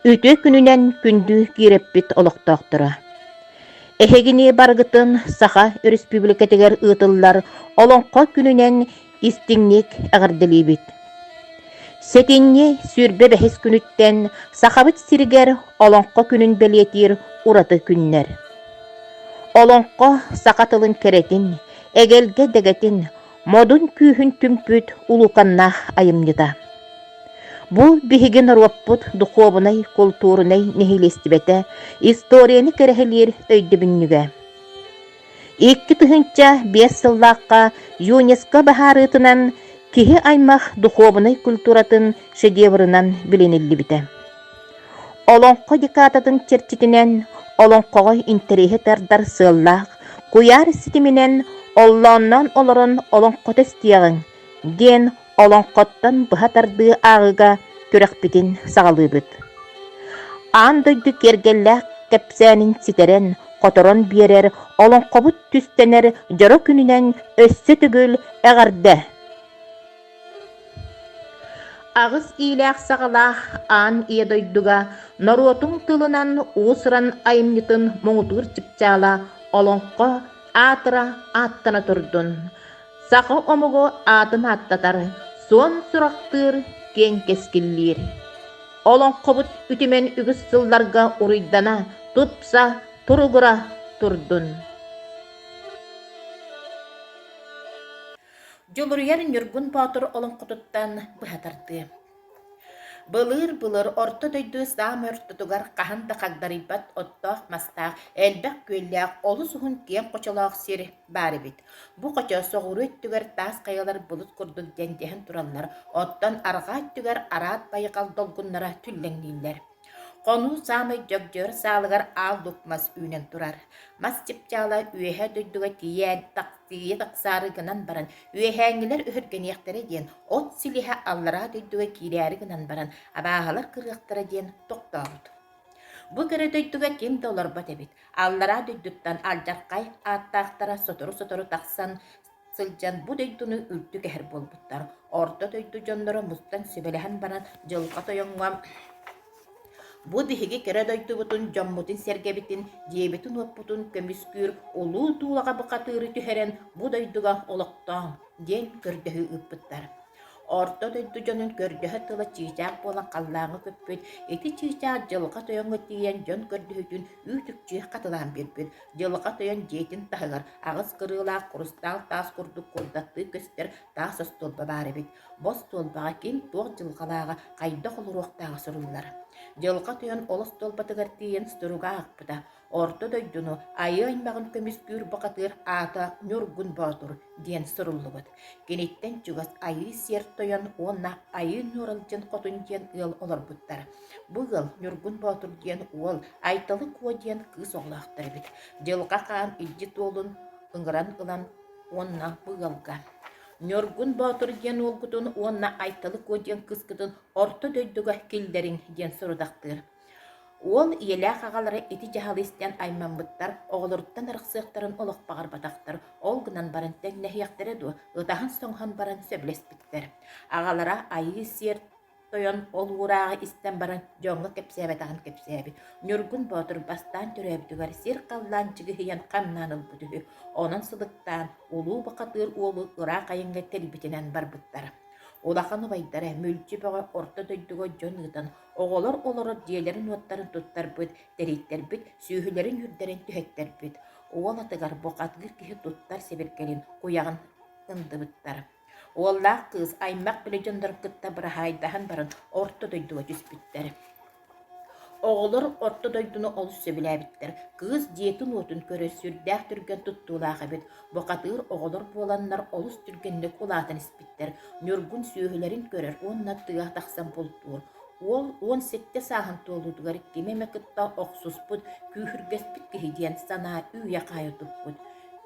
Үтүө күнүнэн күндү киирэппит олохтоохторо! Эһигини барыгытын Саха Өрөспүүбүлүкэтигэр ыытыллар Олоҥхо күнүнэн истиҥник эҕэрдэлиибит! Сэтинньи сүүрбэ бэһис күнүттэн Сахабыт сиригэр Олоҥхо күнүн бэлиэтиир ураты күннэр. Олоҥхо саха тылын кэрэтин, эгэлгэ дэгэтин, Модун күүһүн түмпүт улуканнаах айымньыта. Бу биһиги норуоппут духуобунай, култуурунай нэһилиэстибэтэ историяны кэрэһилиир өйдөбүнньүгэ. Икки тыһыынча биэс сыллаахха ЮНЕСКО баһаарыытынан киһи-аймах духуобунай культуратын шедеврынан билиниллибитэ. Олоҥхо декадатын чэрчитинэн олоҥхоҕо интэриэһи тардар сыаллаах куйаар ситиминэн оллоонноон олорон олоҥхото истиэҕиҥ диэн олоҥхоттон быһа тардыы ааҕыыга күрэхпитин саҕалыыбыт. Аан дойду киэргэллээх кэпсээнин ситэрэн, хоторон биэрэр олоҥхобут түстэнэр дьоро күнүнэн өссө төгүл эҕэрдэ! Аҕыс иилээх-саҕалаах аан ийэ дойдуга норуотуҥ тылынан уус-уран айымньытын муҥутуур чыпчаала олоҥхо аатыра ааттана турдун, саха омугу аатын ааттатар, суон сурахтыыр, киэҥ кэскиллиир. Олоҥхобут үтүмэн үгүс сылларга уруйдана, тупса, туругура турдун! Дьулуруйар Ньургун Боотур олоҥхотуттан быһа тардыа. Былыыр-былыр орто дойду саам ортотугар хаһан да хагдарыйбат оттоох-мастаах, элбэх күөллээх, олус уһун киэҥ хочолоох сир баар эбит. Бу хочо соҕуруу өттүгэр таас хайалар былыт курдук дьэндиһэн тураллар, оттон арҕаа өттүгэр араат байҕал долгуннара түллэҥнииллэр. Хонуу саамай дьөгдьөр саалыгар аал лук мас үүнэн турар. Мас чыпчаала үөһэ дойдуга тиийэн тахсыыйа тахсаары гынан баран, үөһээҥҥилэр өһүргэниэхтэрэ диэн, от силиһэ аллараа дойдуга киирээри гынан баран, абааһылар кырыахтара диэн тохтообут. Бу кэрэ дойдуга ким да олорбот эбит. Аллараа дойдуттан алдьархай ааттаахтара сотору-сотору тахсан, сылдьан бу дойдуну үрдүк эһэр буолбуттар. Орто дойду дьонноро мустан сүбэлэһэн баран Дьылҕа Тойоҥҥо бу биһиги кэрэ дойдубутун, дьоммутун-сэргэбитин, дьиэбитин-уоппутун көмүскүүр улуу туулаҕа бухатыыры түһэрэн бу дойдуга олохтооҥ диэн көрдөһүү ыыппыттар. Орто дойду дьонун көрдөһө тыла чыычаах буолан халлааҥҥа көппүт, ити чыычаах Дьылҕа Тойоҥҥо тиийэн дьон көрдөһүүтүн үүт-үкчү хатылаан биэрбит. Дьылҕа Тойон дьиэтин таһыгар аҕыс кырыылаах хрустал таас курдук курдаттыы көстөр таас остуолба баар эбит. Бу остуолбаҕа ким туох дьылҕалааҕа, хайдах олоруохтааҕа суруллар. Дьылҕа Тойон ол остуолбатыгар тиийэн суруга аахпыта. Орто дойдуну, айыы аймаҕын көмүскүүр бухатыыр аата Ньургун Боотур диэн суруллубут. Киниттэн чугас Айыы Сиэр Тойон уонна Айыы Ньууралдьын Хотун диэн ыал олорбуттар. Бу ыал Ньургун Боотур диэн уол Айталы Куо диэн кыыс оҕолоохтор эбит. Дьылҕа Хаан илдьит уолун ыҥыран ылан уонна бу ыалга Ньургун Боотур диэн уолгутун уонна Айталы Куо диэн кыыскытын Орто дойдуга киллэриҥ диэн сорудахтыыр. Уол ийэлээх аҕалара ити дьаһалы истэн аймаммыттар, оҕолоруттан арахсыахтарын олохпоҕорботохтор, ол гынан баран тэҥнэһиэхтэрэ дуо, ытаһан-соҥоһон баран сөбүлэспиттэр. Аҕалара айыы-сиэр тойон ол уурааҕы истэн баран дьоҥҥо кэпсээбэтэҕин кэпсээбит. Ньургун Боотур бастаан төрөөбүтүгэр сир-халлаан чыгыһыйан хамнаан ылбыт үһү. Онон сылыктаан, улуу бухатыыр уолу ыраах айыҥҥа тэлбитинэн барбыттар. Улахан убайдара, мүлчү бөҕө орто дойдуга дьон ыытан, Оҕолор олорор дьиэлэрин-уоттарын туттарбыт, тэрийтэрбит, сүөһүлэрин-үүрдэрин түһэттэрбит. Уол атыгар бухатгыр киһи туттар сибиргэлин, куйаҕын ындыбыттар. Уоллаах кыыс аймах били дьоннорун кытта быраһаайдаһан баран орто дойдуга түспүттэр. Оҕолор орто дойдуну олус сөбүлээбиттэр. Кыыс дьиэтин-уотун көрөр сүрдээх түргэн туттуулаах эбит. Бухатыыр оҕолор буоланнар олус түргэнник улаатан испиттэр, Ньургун сүөһүлэрин көрөр уонна тыа тахсан бултуур. Уол уон сэттэ сааһын туолуутугар ким эмэ кытта охсуспут, күүһүргэспит киһи диэн санаа үүйэ-хаайа туппут.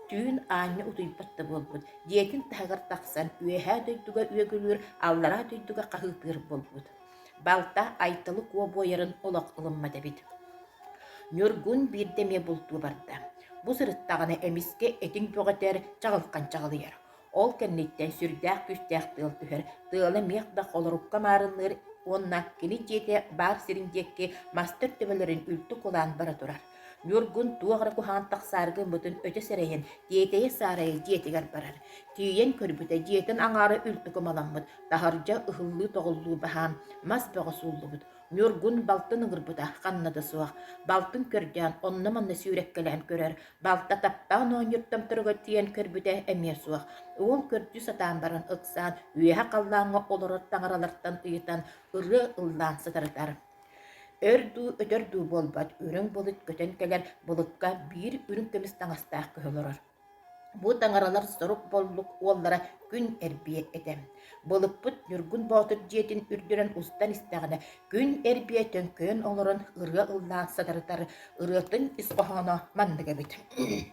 Түүн аанньа утуйбат да буолбут, дьиэтин таһыгар тахсан үөһээ дойдуга үөгүлүүр, аллараа дойдуга хаһыытыыр буолбут. Балта Айталы куо буойарын олох ылыммат эбит. Ньургун биирдэ эмиэ бултуу барда. Бу сырыттаҕына эмискэ этиҥ бөҕөтөр чаҕылхан чаҕылыйар. Ол кэнниттэн сүрдээх күүстээх тыал түһэр, тыала миэх да холорукка маарынныыр уонна кини дьиэтэ баар сирин диэки мастар төбөлөрүн үлтү кулаан бара турар. Ньургун туох эрэ куһаҕан тахсаарга ыммытын өтө сэрэйэн, тиэтэйэ саарайа дьиэтигэр барар. Тиийэн көрбүтэ, дьиэтин аҥаара үрдүк ымаламмыт, таһырдьа ыһыллыы-тоҕуллуу баһаам, мас бөҕө сууллубут. Ньургун балтын ыҥырбыта ханна да суох. Балтын көрдөөн, онно-манна сүүрэккэлээн көрөр. Балта таптаан оонньууртан туруга тиийэн көрбүтэ эмиэ суох. Уол көрдүү сатаан баран ыксаан, үөһэ халлааҥҥа олорор таҥаралартан ыйытан, ырыа ыллаан сытарытар. Өр дуу, өтөр дуу буолбат үрүҥ былыт көтөн кэлэн былыкка биир үрүҥ көмүс таҥастаах көһө олорор. Бу таҥаралар сорук боллук уоллара күн эрбиэ этэ. Былыкпыт Ньургун Боотур дьиэтин үрдүнэн устан истэҕинэ, күн эрбиэ төҥкөйөн олорон ырыа ыллаан сатарытар ырыатын ис хоһооно маннык эбит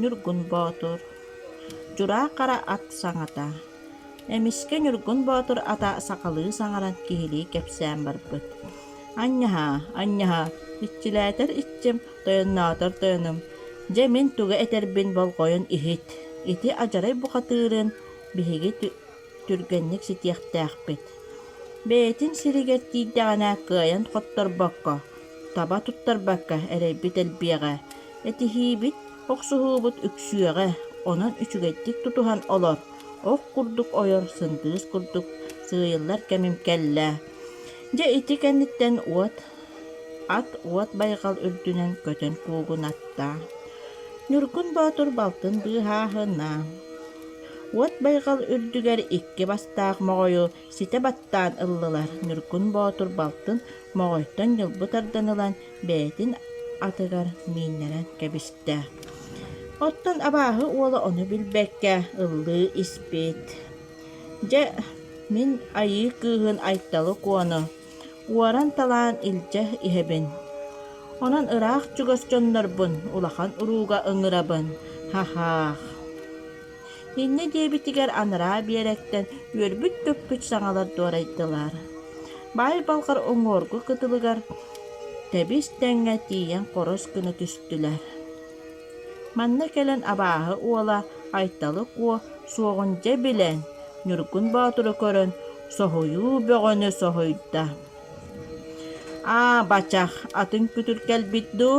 Ньургун Боотур Дьураа-хара ат саҥата Эмискэ Ньургун Боотур ата сахалыы саҥаран киһилии кэпсээн барбыт: «Анньаһаа, анньаһаа, иччилээтэр иччим, тойонноотор тойонум, дьэ мин тугу этэрбин болҕойон иһит, ити адьарай бухатыырын биһиги түргэнник ситиэхтээхпит. Бэйэтин сиригэр тиийдэҕинэ кыайан хотторбокко, таба туттарбакка эрэйбит элбиэҕэ. Этиһиибит, охсуһуубут үксүөҕэ, онон үчүгэйдик тутуһан олор, ох курдук ойор, сындыыс курдук сыыйыллар кэмим кэллэ. Дьэ ити кэнниттэн уот Ат уот байҕал үрдүнэн көтөн куугунатта. Ньургун Боотур балтын быыһааһына. Уот байҕал үрдүгэр икки бастаах моҕойу ситэ баттаан ыллылар. Ньургун Боотур балтын моҕойтон ньылбы тардан ылан, бэйэтин атыгар мииннэрэн кэбистэ. Оттон абааһы уола ону билбэккэ ыллыы испит. Дьэ, мин айыы кыыһын Айталы Куону Уоран талаан илдьэ иһэбин. Онон ыраах чугас дьоннорбун улахан урууга ыҥырабын, һаһаах. Инньэ диэбитигэр анараа биэрэктэн үөрбүт-төппүт саҥалар дуорайдылар. Баай балҕар уҥуоргу кытылыгар тэбис тэҥҥэ тиийэн хорос гына түстүлэр. Манна кэлэн абааһы уола Айталык уо суоҕунча билэн, Ньургун Боотуру көрөн, соһуйуу бөҕөнү соһуйда: «Аа, бачах, атын күтүр кэлбит дуу?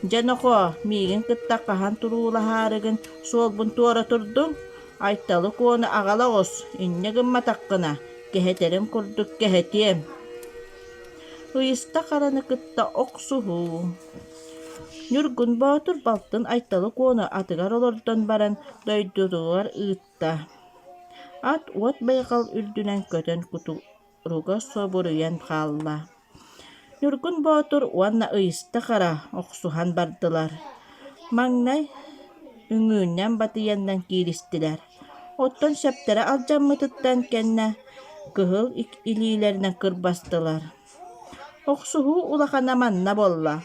Дьэ, нохоо, миигин кытта хаһан туруулаһаарыгын суолбун туора турдуҥ? Айталык уону аҕала оҕус, инньэ гымматаххына, кэһэтэрин курдук кэһэтиэм» Ыйыста хараны кытта охсуһуу Ньургун Боотур балтын Айталы Куону атыгар олордон баран дойдутугар ыытта. Ат уот байҕал үрдүнэн көтөн кутуруга собуруйан хаалла. Ньургун Боотур уонна Ыйыста Хара охсуһан бардылар. Маҥнай үҥүүннэн батыйаннан кииристилэр. Оттон сөптөрө алдьаммытыттан кэннэ кыһыл илиилэринэн кырбастылар. Охсуһуу улахана манна буолла,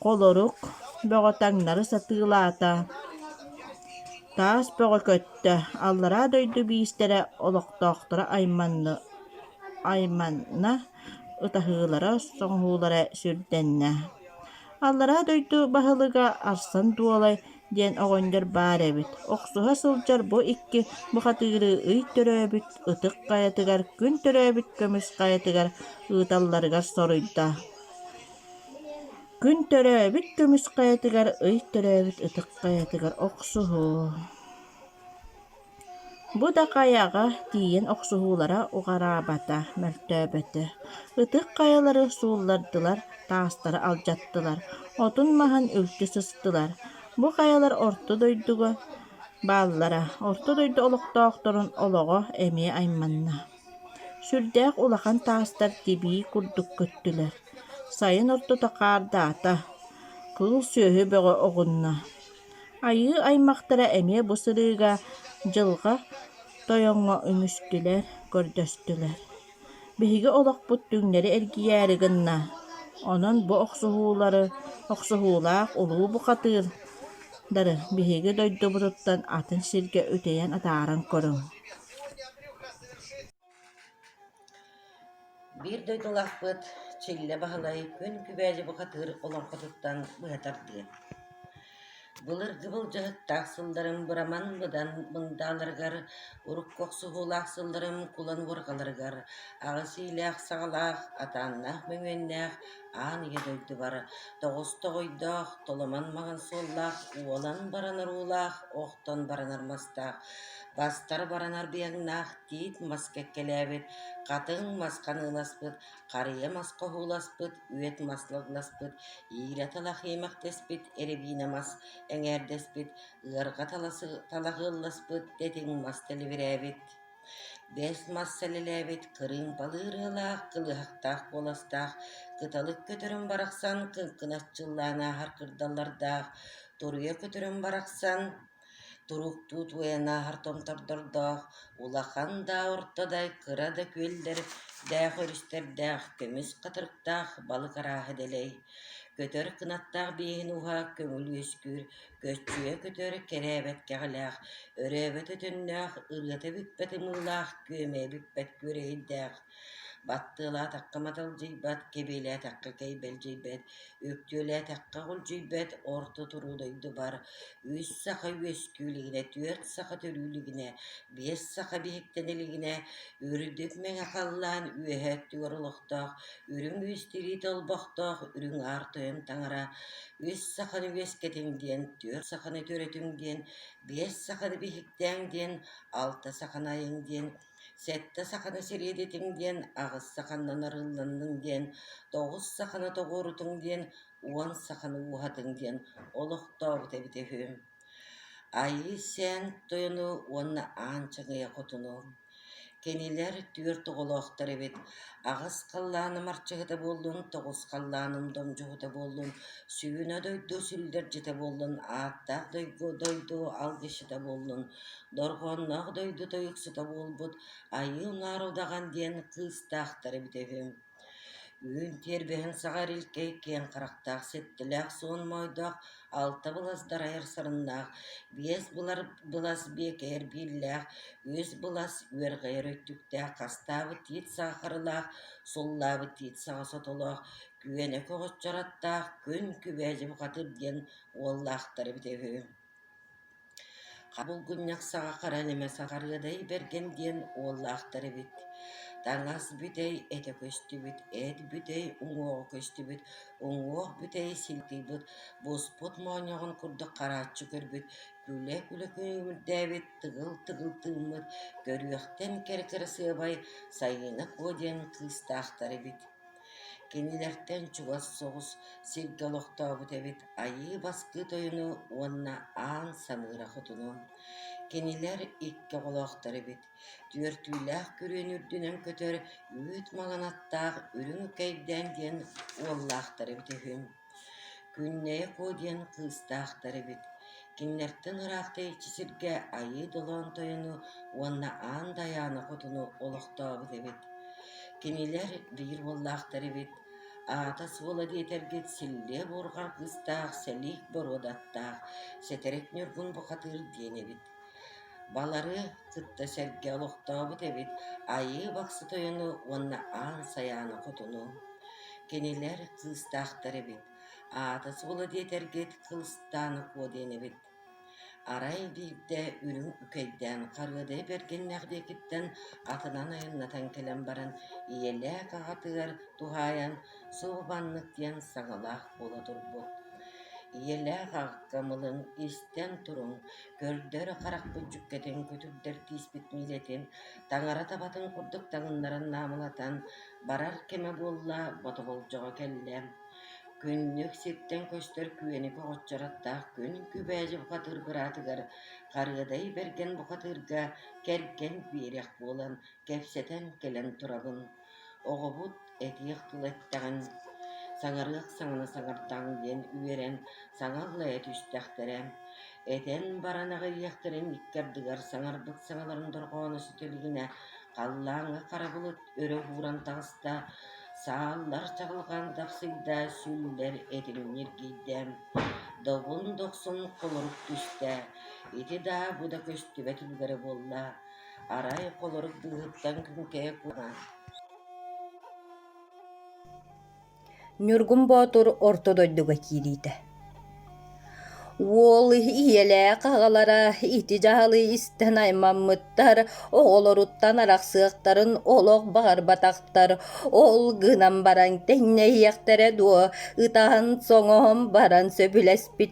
холорук, бөҕө таҥнары сатыылаата, таас бөҕө көттө, аллараа дойду биистэрэ олохтоохторо айманна, айманна ытаһыылара, соҥоһуулара сүрдэннэ Аллараа дойду баһылыга Арсан Дуолай диэн оҕонньор баар эбит. Охсуһа сылдьар бу икки бухатыыры ый төрөөбүт ытык хайатыгар, күн төрөөбүт көмүс хайатыгар ыыталларыгар соруйда. Күн төрөөбүт көмүс хайатыгар, ый төрөөбүт ытык хайатыгар охсуһуу Бу да хайаҕа тиийэн охсуһуулара уҕараабата, мөлтөөбөтө. Ытык хайалары сууллардылар, таастары алдьаттылар, отун маһын үлтү сыстылар. Бу хайалар Орто дойдуга бааллара, Орто дойду олохтоохторун олоҕо эмиэ айманна. Сүрдээх улахан таастар тибии курдук көттүлэр. Сайын ортото хаардаата, кыыл сүөһү бөҕө оҕунна. Айыы аймахтара эмиэ бу сырыыга Дьылҕа Тойоҥҥо үмүстүлэр, көрдөстүлэр. Биһиги олохпут түҥнэри эргийээри гынна, онон бу охсуһуулары, охсуһуулаах улуу бухатыырдары биһиги дойдубутуттан атын сиргэ үтэйэн атааран көрүҥ. Биир дойдулаахпыт Чиллэ Баһылай күн күбээдьи бухатыыр олоҥхотуттан быһа тардыа. Былыргы былдьаһыктаах сылларым быраман быдан мындааларыгар, урукку охсуһуулаах сылларым кулан уорҕаларыгар, аҕыс иилээх-саҕалаах, атааннаах мөҥүөннээх аан ийэ дойдубар тоҕус тоҕойдоох, толомон маҥан суоллаах, уолан баран оруулаах, охтон баранар мастаах, бастар баранар быйаҥнаах тиит мас кэккэлээбит, хатыҥ мас ханыыласпыт, харыйа мас хоһууласпыт, үөт мас лыгласпыт, иирэ-тал ахыйымахтэспит, эрэбиинэ мас эҥээрдэспит, ыарҕа таласы талаһыалласпыт, тэтиҥ мас тэлибирээбит, бэс мас сэлэлээбит, кырыым балыы ырыалаах, кылыһахтаах куоластаах, кыталык көтөрүм барахсан кыҥкынас чыллаан ааһар кырдаллардаах, туруйа көтөрүм барахсан Туруктуу туойанааһар томтордордоох, улахан да, орто да, кыра да күөллэрдээх өрүстэрдээх, көмүс хатырыктаах балык арааһа дэлэй, көтөр кынаттаах биэһин уһа көҥүл үөскүүр, көччүйэ көтөр кэрээбэт кэҕэлээх, өрөөбөт өтөннөөх, ырыата бүппэт ымыылаах, күөмэйэ бүппэт күөрэйирдээх Баттыалаатахха маталдьыйбат, кэбиэлээтэххэ кэйбэлдьийбэт, үктүөлээтэххэ хулдьуйбат орто туруу дойдубар үс саха үөскүүлигинэ, түөрт саха төрүүлигинэ, биэс саха биһиктэн илигинэ үрдүк мэҥэ халлаан үөһэ өттүгэр олохтоох үрүҥ үс тириит олбохтоох үрүҥ аар тойон таҥара үс саханы үөскэтиҥ диэн, түөрт саханы төрөтүҥ диэн, биэс саханы биһиктээҥ диэн, алта саханы айыҥ диэн Сэттэ саханы сириэдитиҥ диэн аҕыс саханнан арыллынныҥ диэн, тоҕус саханы тоҕуорутуҥ диэн, уон саханы ууһатыҥ диэн олохтообут эбитэ үһү. Айыы-сээн тойону уонна аан чаҥыйа хотуну. Кинилэр түөрт оҕолоохтор эбит. Аҕыс халлааным арчыһыта буоллун, тоҕус халлааным домдьуһута буоллун, сүнэ дойду сүллэрдьитэ буоллун, ааттаах дойду дойду алгысчыта буоллун, Дорҕоонноох дойду тойуксута буолбут Айыы Уҥаар Удаҕан диэн кыыстаахтар эбит үһү. Үүн тиэрбэһин саҕа эрилкэй киэҥ харахтаах ситтилээх суон моойдоох алта быласдар айар сарыннаах биэс былар былас биэкэйэр бииллээх үс былас үөрҕэйэр өттүктээх хастаабыт тиит саахарылаах суллаабыт тиит саҕа сотолоох күөнэ көҕөччөр аттаах күн күбээдьи бухатыр диэн уоллаахтар эбит үһү Булгунньах саҕа харан эмэ саҕарыадай бэргэн диэн уоллаахтар эбит, таҥас бүтэй этэ көстүбүт, эт бүтэй уҥуоҕа көстүбүт, уҥуох бүтэй силкийбит, буспут моонньоҕон курдук харааччы көрбүт, күлэ-күлэ күнүүрдээбит, тыгыл-тыгыл тыыммыт, көрүөхтэн кэрэ-кырасыабай Сайыына Куо диэн кыыстаахтар эбит Кинилэртэн чугас соҕус сиргэ олохтообут эбит Айыы Бастыы Тойону уонна Аан Самыыра Хотуну. Кинилэр икки оҕолоохтор эбит. Түөртүүлээх күрүөнү үрдүнэн көтөр үүт маҥан аттаах үрүҥ үкэйдээн диэн уоллаахтар эбит үһү. Күннэйэ Куо диэн кыыстаахтар эбит, кинилэртэн ыраахтаиччы сиргэ Айыы Долоон тойону уонна Аан Дайаана хотуну олохтообут эбит, кинилэр биир уоллаахтар эбит, аата-суола диэтэргит Силлиэ буурҕа кыыстаах сэлиик боруодаттаах, сэтэрик ньургун бухатыыр диэн эбит Балары кытта сэргэ олохтообут эбит Айыы Бахсы Тойону уонна Аан Сайааны хотуну. Кинилэр кыыстаахтар эбит, аата-суола диэтэргит Кылыстаан Акуо диэн эбит. Арай биирдэ үрүҥ үкэйдээн харыада эбэргэннээх диэкиттэн атынан айаннатан кэлэн баран ийэлээх аҕатыгар туһаайан суобаннык диэн саҕалаах буола турбут. Ийэлээх аҕакка мылын истэн туруҥ Көрдөр харахпыт дьүккэтин күтүрдэр кииспит миидэтин, таҥара табатын курдук таҥыннаран наамылатан барар кэмэ буолла, ботоболдьоҕо кэллэ. Күннүк сиртэн көстөр күөни көҕөччөрөттөөх күн Күбээдьи бухатыыр быраатыгар Харыадай Бэргэн бухатыырга кэргэн биэриэх буолан кэпсэтэн кэлэн турабын Оҕобут этиэх тыл эттэҕин, саҥарыах саҥаны саҥардаҕыҥ диэн үөрэн саҥа ыллайа түстэхтэрэ, этэн баран аҕыйыахтарын икки ардыгар саҥарбыт саҥаларын дорҕооно сүтэ илигинэ халлааҥҥа хара былыт өрө ууран таҕыста, сааллар чаҕылҕан тапсыйда, сүллэр этин ньиргийдэ, добун дохсун холорук түстэ, ити даа бу да көстүбэт үлүгэрэ буолла Арай, холорук быыһыттан күҥкэһэ куһаҕан Ньургун Боотур орто дойдуга киириитэ Уол ийэлээх аҕалара ити дьаһалы истэн аймаммыттар, оҕолоруттан арахсыахтарын олох баҕарбатахтар. Ол гынан баран тэҥнэһиэхтэрэ дуо, ытаһан-соҥоһон баран сөбүлэспит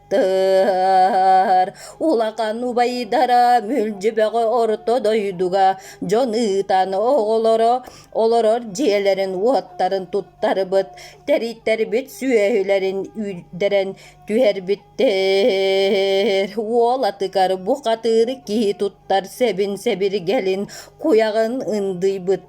Тыыр улахан убайдара Мүлдьүбэҕи орто дойдуга дьон ыытан оҕолоро олорор дьиэлэрин-уоттарын туттарбыт, тэрийтэрбит сүөһүлэрин үүрдэрэн түһэрбиттэр. Уол атыгар бухатыыр киһи туттар сэбин сэбиргэлин куйаҕын ындыйбыттар.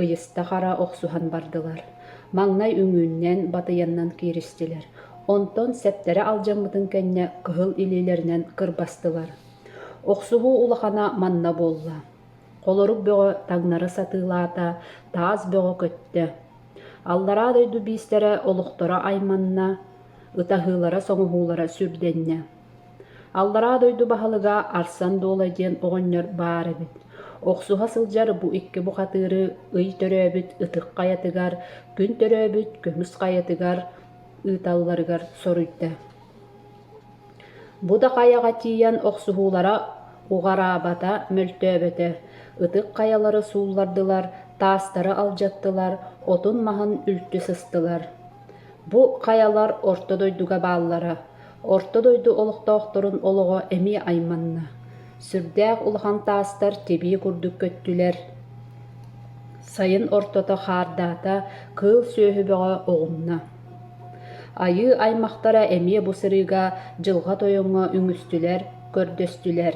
ыйыста-хара охсуһан бардылар, маҥнай үҥүүннээн батыйаннан кииристилэр, онтон сэптэрэ алдьаммытын кэннэ кыһыл илиилэринэн кырбастылар. Охсуһуу улахана манна буолла. Холорук бөҕө таҥнары сатыылаата, таас бөҕө көттө. Аллараа дойду биистэрэ олохторо айманна, ытаһыылара-соҥоһуулара сүрдэннэ. Аллараа дойду баһылыга Арсан Дуола диэн оҕонньор баар эбит, охсуһа сылдьар бу икки бухатыыры ый төрөөбүт ытык хайатыгар, күн төрөөбүт көмүс хайатыгар ыыталларыгар соруйда. Бу да хайаҕа тиийэн охсуһуулара уҕараабата, мөлтөөбөтө, ытык хайалары сууллардылар, таастары алдьаттылар, отун-маһын үлтү сыстылар. Бу хайалар орто дойдуга бааллара, Орто дойду олохтоохторун олоҕо эмиэ айманна, сүрдээх улахан таастар тибии курдук көттүлэр, сайын ортото хаардаата, кыыл сүөһү бөҕө оҕунна. Айыы аймахтара эмиэ бу сырыыга дьылҕа тойоҥҥо үҥүстүлэр, көрдөстүлэр.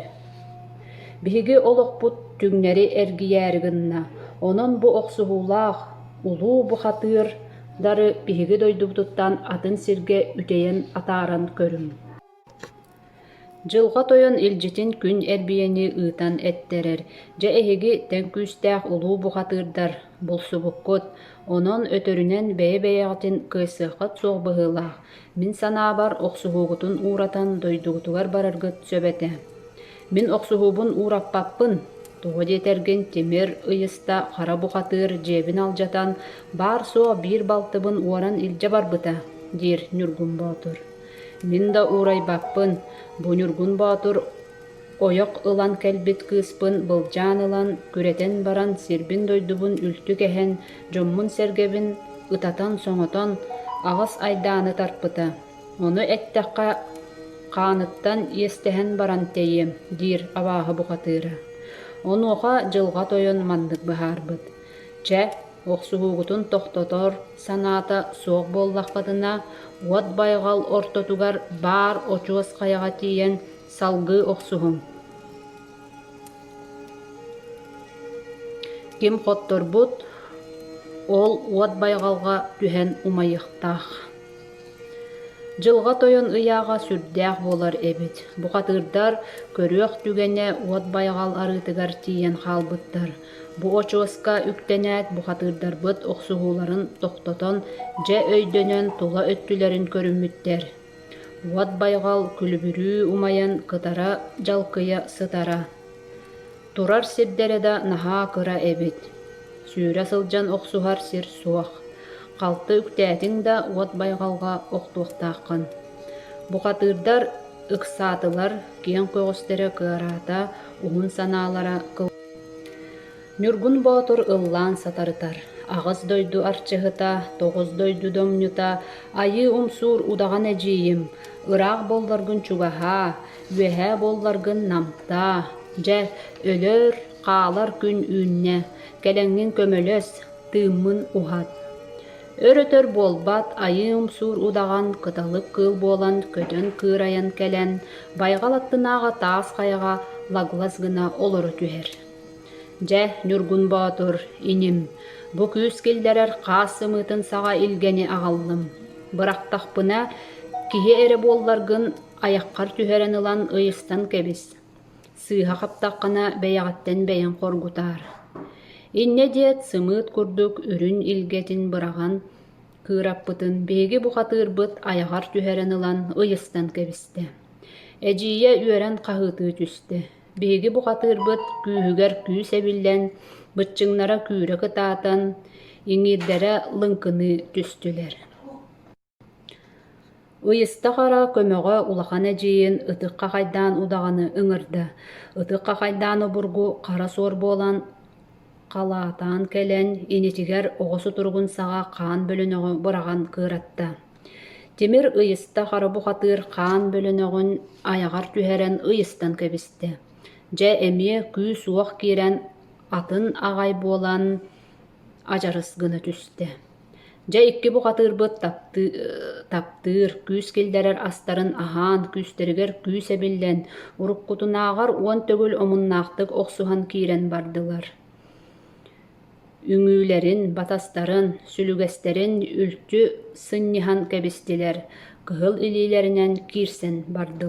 Биһиги олохпут түҥнэри эргийээри гынна, онон бу охсуһуулаах, улуу бухатыыр Дары биһиги дойдубутуттан атын сиргэ үтэйэн атааран көрүҥ Дьылҕа Тойон илдьитин күн эрбийэни ыытан эттэрэр Дьэ эһиги тэҥкүүстээх улуу бухатыырдар, булсубуккут, онон өтөрүнэн бэйэ-бэйэҕитин кыайсыаххыт суох быһыылаах Мин санаабар, охсуһуугутун ууратан дойдугутугар бараргыт сөп этэ. Мин охсуһуубун уураппаппын. Тоҕо диэтэргин, тимир, ыйыста, хара бухатыыр дьиэбин алдьатан, баар-суох биир балтыбын уоран илдьэ барбыта, диир Ньургун Боотур. Мин да уурайбаппын. Бу Ньургун Боотур Ойох ылан кэлбит кыыспын былдьаан ылан, күрэтэн баран сирбин-дойдубун үлтү кэһэн, дьоммун-сэргэбин ытатан-соҥотон, аҕыс айдааны тарпыта. Ону эттэххэ, хааныттан иэстэһэн баран тэйиэм, диир абааһы бухатыыра. Онуоха дьылҕа тойон маннык быһаарбыт: «Чэ, охсуһуугутун тохтотор санаата суох буоллаххытына, уот байҕал ортотугар баар очуос хайаҕа тиийэн, Салгыы охсуһуҥ. Ким хотторбут, ол уот байҕалга түһэн умайыахтаах. Дьылҕа тойон ыйааҕа сүрдээх буолар эбит. Бухатыырдар көрүөх түгэнэ уот байҕал арыытыгар тиийэн хаалбыттар. Бу очуоска үктэнээт бухатыырдарбыт охсуһууларын тохтотон, дьэ өйдөнөн тула өттүлэрин көрүммүттэр. Уот байҕал күлүбүрүү умайан кытара дьалкыйа сытара, турар сирдэрэ да наһаа кыра эбит, сүүрэ сылдьан охсуһар сир суох, халты үктээтиҥ да уот байҕалга охтуохтааххын. Бухатыырдар ыксаатылар, киэҥ көҕүстэрэ кыараата, уһун санаалара кыл Ньургун Боотур ыллаан сатарытар, аҕыс дойду арчыһыта, тоҕус дойду доҥньута, айыы умсуур удаҕан эдьиийим, ыраах буолларгын чугаһаа, үөһээ буолларгын намтаа. Дьэ, өлөр, хаалар күн үүннэ, кэлэҥҥин көмөлөс, тыыммын уһат. Өр-өтөр буолбат айыы умсуур удаҕан кыталык кыыл буолан көтөн кыырайан кэлэн, байҕал аттынааҕы таас хайаҕа лаглас гына олоро түһэр. Дьэ, Ньургун Боотур, иним, бу күүс киллэрэр хаас сымыытын саҕа илгэни аҕаллым. Бырахтахпына, киһи эрэ буолларгын, айаххар түһэрэн ылан ыйыстан кэбис. Сыыһа хаптаххына, бэйэҕиттэн бэйэҥ хоргутаар. Иннэ диэт, сымыыт курдук үрүн илгэтин быраҕан, кыыраппытын биһиги бухатыырбыт айаҕар түһэрэн ылан ыйыстан кэбистэ. Эдьиийэ үөрэн хаһыытыы түстэ. Биһиги бухатыырбыт күүһүгэр күүс эбиллэн, быччыҥнара күүрэ кытаатан, иҥиирдэрэ лыҥкыныы түстүлэр Ыйыста хара көмөҕө улахан эдьиийин ытыкка хайдаан удаҕаны ыҥырда. Ытыкка хайдаан обургу хара суор буолан, халаатаан кэлэн, инитигэр оҕо сутуругун саҕа хаан бөлөнөҕө быраҕан кыыратта Тимир ыйыста харабухатыыр хаан бөлөнөҕүн айаҕар түһэрэн ыйыстан кэбистэ, дьэ эмиэ күүс-уох киирэн атын аҕай буолан адьарыс гына түстэ: «Дьэ икки бухатыырбыт таптыы таптыыр, күүс киллэрэр астарын аһаан, күүстэригэр күүс эбиллэн, уруккутунааҕар уон төгүл омуннаахтык охсуһан киирэн бардылар» үҥүүлэрин, батастарын, сүлүгэстэрин үлтү сынньыһан кэбистилэр, кыһыл илиилэринэн киирсэн бардылар